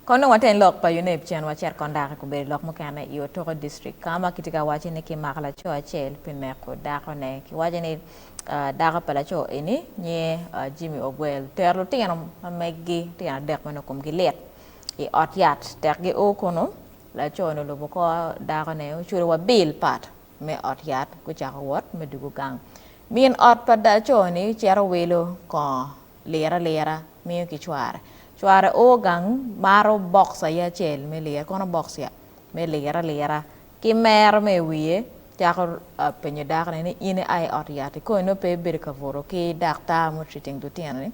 Kono wa teng lok pa Yuneb cen wacit kong dako gubedo lok mukene i Otoko District ka ma kitye ka wacci ni kimako laco acel pi neko dako ne. Kiwaco ni dako pa laco eni nyinge Jimmy Ogwel tero lutino ma meggi lutino adek ma nongo komgi lit i ot yat tek gi o kunu. Laco ni olubo kor dako ne oculo wa bill pat me ot yat gucako wot me dugu gang. Min ot pa laco ni cito wilo kongo. liro alira miyo ki cware. Cware oo gang maro box aye acel me liro, kono box ya me liro alira. Ki mero ma i wiye, cako penyo dako ni, ni in ia i ot yat-ti? Kong inongo pe ibedo ka buto ki daktar ma otreating lutino-ni?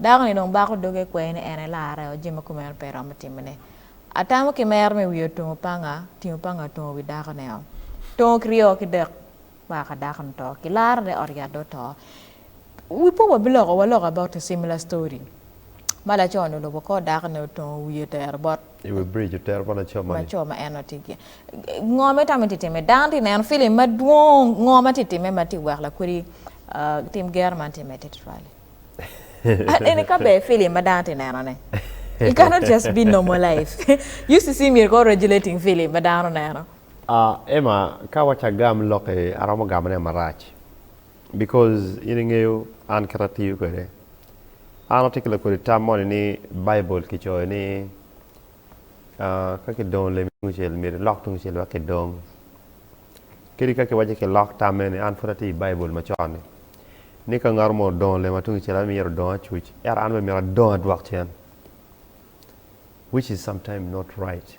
Dako ni dong bako doge kwee ni en aye larre oo, jami ma kumeno pe iromo timone. Atamo ki mero ma i wiye otungo panga, otingo panga otungo wi dako-ni oo. Tongo kiryo ki dek. Maa ka dako ni to kilaro ne ot yat dong oto wi po wa biloko wa loka about a similar story ma laco ni olubo kor dako ni otongo wiye otero bot I wi bridge otero bot laco moni. laco ma en tye ki ngo ma itamo tye time dano tye neno film madwong ngo ma tye time ma tye wek lakwodi tim gero man tye me tititwali eni ka ber film ma dano tye neno ne you cannot just be normal life used to see me ko regulating film ma dano neno. Ah Emma ka waco agam loki aromo gamo ne marac because in ingeyo an kit atiyo kwede. An atye ki lakodi tam moni ni bible kicoyo ni ah ka kidongo lemi tungcel myero ilok tungcel wek kidong. Kadi ka kiwaco ni kilok tam eni an pud atye i bible macon ni ni ka ngat mo odongo lema tungcel an myero adong acuc ento an bene myero adong adwok cen which is sometime not right.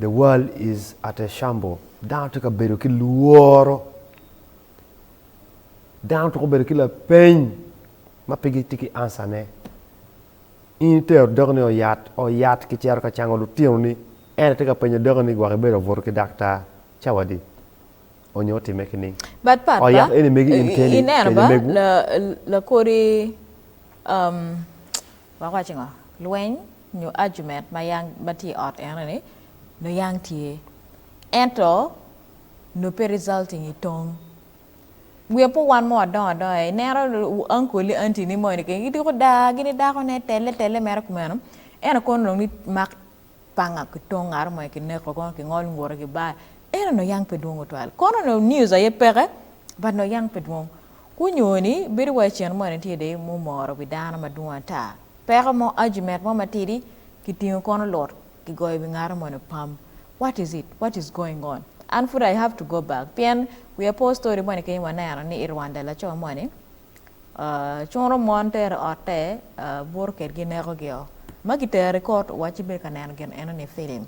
The world is at a shamble. Dano tye ka bedo ki lworo. Dano twero bedo ki lapeny ma pe gitye ki ansane. In itero doki ni oyat, oyat ki cero ka cango lutino ni en tye ka penyo doki ni gwok ibedo obuto ki dakta cawadi onyo otime ki ning. But pat oh, yap eni megi in keni ineno ba lakodi um, wako wacingo lweny nyo argument ma yang ma tye i ot eno ni nyo yang tye ento nyo pe resulting i tong wiya pe owan mo adongo adongo aye ineno uncle ni auntie ni moni keken gidiko daa gini dako ne tele tele mere kumeno eno kono dong ni mak panga ki tong ngat mo ki neko kono ki ngol ngute ki bar eno nyo yang pe dwong tutwal kono nyo news aye peke but nyo yang pe dwong Gunyoyo ni bedo wa i cen mo ni tye de mumoro wi dano madwong ata. Peko mo, argument mo matidi, kitingo kono lut, kigoyo wi ngato mo ni pam. What is it? What is going on? An pud I have to go back pien we are poor story mo ni keny waneno ni i Rwanda laco mo ni curo mon tero otte, buto kedgi neko gi o. Ma kitero i court wacci bedo ka neno gin eno ni film.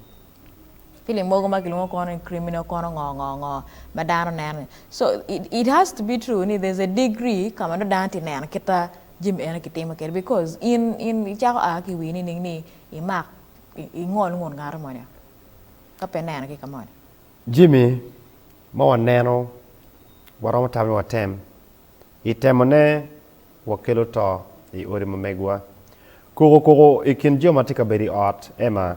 Film mogo ma kilwongo kono ni criminal kono ngo ngo ngo ma dano neno ni so it has to be true ni there's a degree ka ma nongo dano tye ka neno kit ma jami eno ki timo kwede because in in i cako a ki i wii nining ni i mak i ngol ngut ngato moni oo ka pe neno ki ka moni. Jami ma wa neno wa romo tamo ni wa tem i temone wa kelo to i odi ma megiwa. Koko koko i kin jo ma tye ka bedo i ot Emma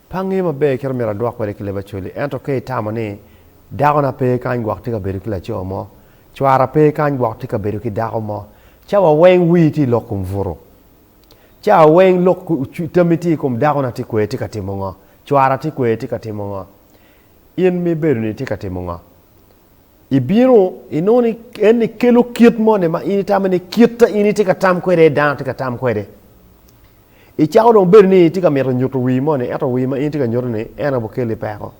Pe angeyo maber kit ma myero adwok kwede ki leb Acholi, ento ka itamo ni, 'Dakona pe kany gwok tye ka bedo ki laco mo, cwara pe kany gwok tye ka bedo ki dako mo, ca wa weng wii tye lok kom butu. Ca wa weng lok tammi tye i kom dakona tye kwede tye ka timo ngo, cwara tye kwede tye ka timo ngo, in ma ibedo-ni itye ka timo ngo? Ibino inongo ni en ekelo kit moni ma in itamo ni kita in itye ka tam kwede aye dano tye ka tam kwede. Icako dong bedo ni itye ka mito nyuto wii moni ento wii ma in itye ka nyuto ni en aye okeli peko.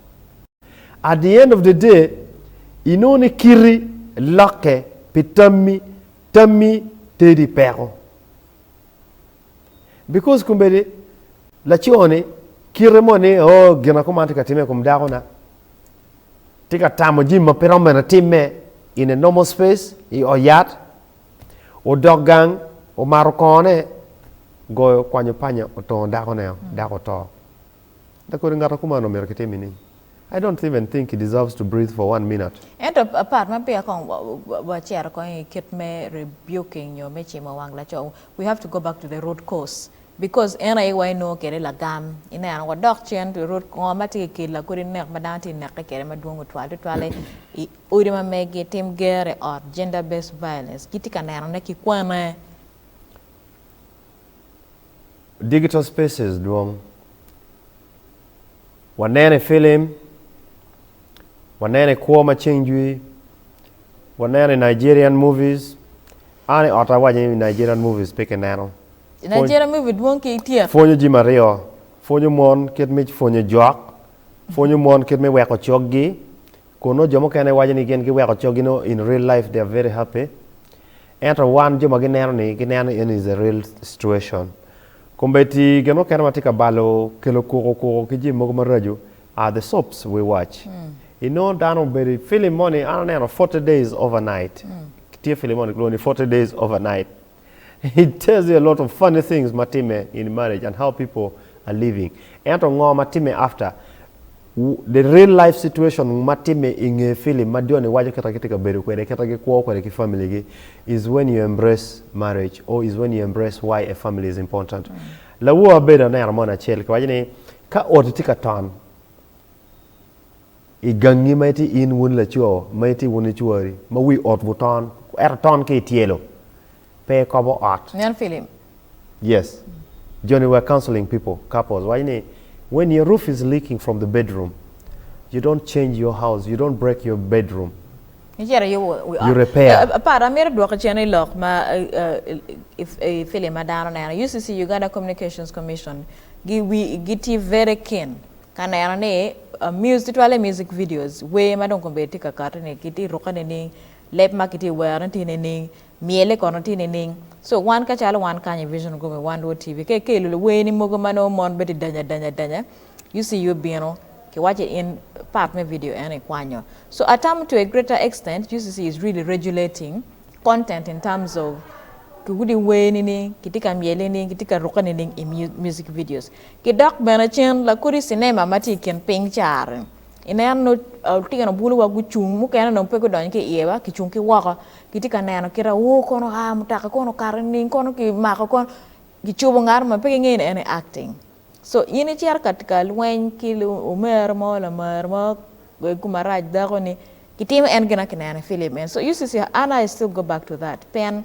At the end of the day inongo ni kiti lokke pi tammi, tammi tedi peko. Because kombeddi laco ni kite mo ni oh gina kuman tye ka time i kom dako na tye ka tamo jim ma pe romo mene time in a normal space i o yat odok gang omato kongo ne goyo kwanyo panya otongo dako ne dako oto. Dak kodi ngato kuman omito kitimi ni? I don't even think he deserves to breathe for one minute. Ento part ma peya kong wacito kong i kit me rebuking nyo me cimo wang laco, we have to go back to the root cause because en aye wa inongo kede lagam ineno wadok cen to root ngo ma tye ka kelo kodi nek ma dano tye ka neke kede ma dwong otwal tutwale i odi ma megi, tim gero i ot, gender based violence gitye ka nenone ki kwane. Digital spaces dwong. Waneno i filim, waneno i kwo ma ceng jwi, waneno i Nigerian movies. An i ot awaco ni Nigerian movies pe ki neno. Nigerian movie dwong ki tyek. Pwonyo jimi aryo, pwonyo mon kit me pwonyo jok, pwonyo mon kit me weko coggi, kun nongo jo mukene waco ni gin giweko coggi nongo in real life they are very happy. Ento wan jo ma gineno ni gineno ni eni is a real situation. Kombeddi gin mukene ma tye ka balo kelo kuku kuku ki jami mogo maraco are the soaps we watch. Inongo dano obedo i film moni an aneno forty days over night tye film moni kilwongo ni forty days over night it tells you a lot of funny things ma timme in marriage and how people are living ento ngo ma timme after The real life situation ma timme i nge film ma Johnny waco kita kitye ka bedo kwede kita gikwo kwede ki family gi is when you embrace marriage or is when you embrace why a family is important. Lawor abedo aneno moni acel kiwaco ni ka oti tye ka ton i gangi ma itye in wun laco ma itye wun icwari ma wi otwu ton eto ton ki ityelo pe ekobo ot. Nen filim. Yes. Joni were counseling people, couples, waco ni, when your roof is leaking from the bedroom, you don't change your house, you don't break your bedroom. Icito i wi ot. You repair. Pat, amito dwoki cen i lok ma i filim ma dano neno. UCC, Uganda Communications Commission, gitye very keen ka neno ni twale music videos, wer ma dong kombeddi tye ka kati-ni, kitye rukke nining, leb ma kitye wero-ni tye nining, Myele kono tye nining? So wan kacalo wan kany i Vision Group me One World TV ka ikelo luweeni mogo ma nongo mon bedo danya danya danya, UCU bino ki wacce in part me video eno ikwanyo. So atamo to a greater extent UCC is really regulating content in terms of ki kudi weeni ni kitye ka myele ni kitye ka rukke nining i music videos. Ki dok bene cen lakodi cinema ma tye i kin piny cari ineno nongo lutino bulu wa gucung mukene nongo pe gudonyo ki iye wa kicung ki woko gitye ka neno kit awo kono oa i mutoka kono okato nining kono ki mako kono ki cobo ngat ma pe ki ngeyo ni en aye acting so in i cito ka lweny ki omera mo lamar mo wek gu marac dako ni ki timo en gin ma ki neno i film eni so UCC an I still go back to that pien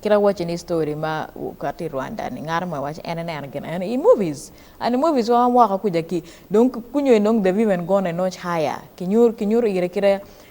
kit ma awacci ni story ma okato i Rwanda ni ngat mo iwaco en ineno gin eno i movies and i movies wa woko kuca ki dong kunyo dong the women gone notch higher ki nyuto ire kite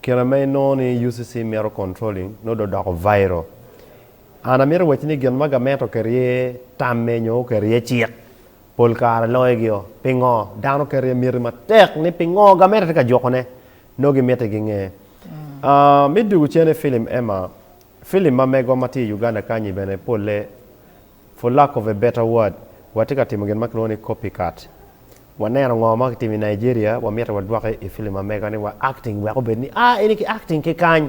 Kine ma inongo ni UCC mito controlling nongo dong odoko viral. An amito wacci ni gin ma gament oketo iye tamme nyo oketo iye cik, pol kare longegio. Pingo? Dano keto iye miti matek ni pingo gamente tye ka jukone. Nongo gimiti ginge. Me dwogo cene film Emma, film ma megwa ma tye i Uganda kany-nyi bene polle, for lack of a better word, watye ka timo gin ma kilwongo ni copycat. Waneno ngo ma kitimo i Nigeria, wamito wadwoke i film ma mega ni wa acting wek obed ni ah eni ki acting ki kany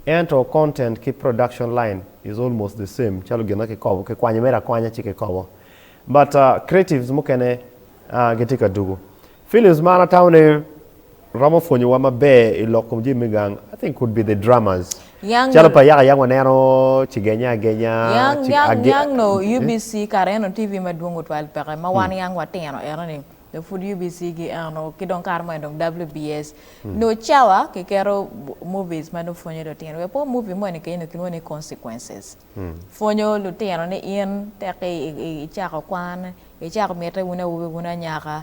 ento content ki production line is almost the same calo gin ma ki kobo ki kwanyo mere akwanya ci ki kobo but creatives mukene ah gitye ka dugu films man atamo ni Romo pwonyowa maber i lok kom jami me gang. I think could be the dramas. Nyang Calo pa yaka yaka waneno cigenya agenya Nyang ci nyang age nyang no eh? UBC kara en o TV madwong otwal peke ma wan yang watino eno ni dong pud UBC gi eno ki dong kare mo en dong WBS nyo cawa ki keto bu- movies ma dong pwonyo lutino wek po movie mo ni kenyo ni kilwongo ni consequences pwonyo lutino ni in teki i- i- icako kwan icako mite wun awobi wun anyaka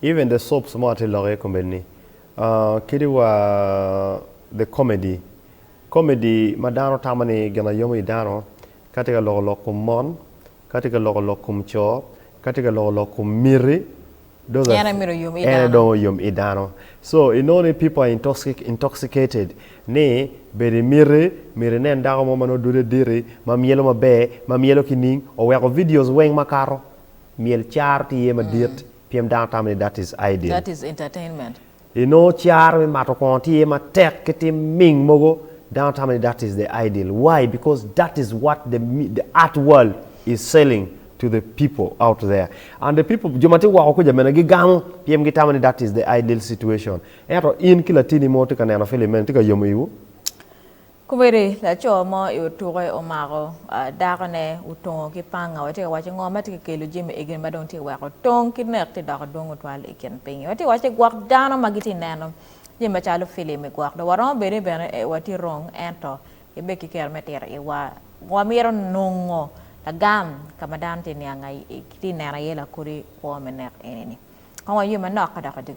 Even the soaps mo atye lok iye komedini aah kadi wa the comedy comedy ma dano tamo ni gin aye yomo i dano ka tye ka loko lok kom mon ka tye ka loko lok kom co ka tye ka loko lok kom miti those are En aye myero oyom i en aye dano. dong oyom i dano so i nongo ni people are intoxic intoxicated ni bedo i miti myero i nen dako mo ma nongo dude diti ma myelo maber ma myelo ki ning oweko videos weng makato myel car tye iye madit. Pyem dano tamo ni that is ideal. That is entertainment. Inongo caro me mato kongo tye matek ki tim ming mogo, dano tamo ni that is the ideal. Why? Because that is what the the art world is selling to the people out there. And the people, jo ma tye woko kuca bene gigamo pyem gitamo ni that is the ideal situation. Ento in ki latini mo tye ka neno film meno, tye ka yomo iwu? Komedi, Laco mo i otuke omako dakone otungo ki panga. Watye ka waco ngo ma tye ka kelo Jimmy Egeni ma dong tye ka weko tong ki nek tye doko dwong otwal i kin piny? Watye ka waco gwok dano ma gitye ka neno jami macalo filim i gwok. Dong waromo bedo ni bene watye wrong ento kibe ki kero me tiro iwa. Wamito nongo lagam ka ma dano tye ka niang aye, tye ka neno aye lakodi kwo me nek eni-ni. Kong waywe manok ka dok wadugi.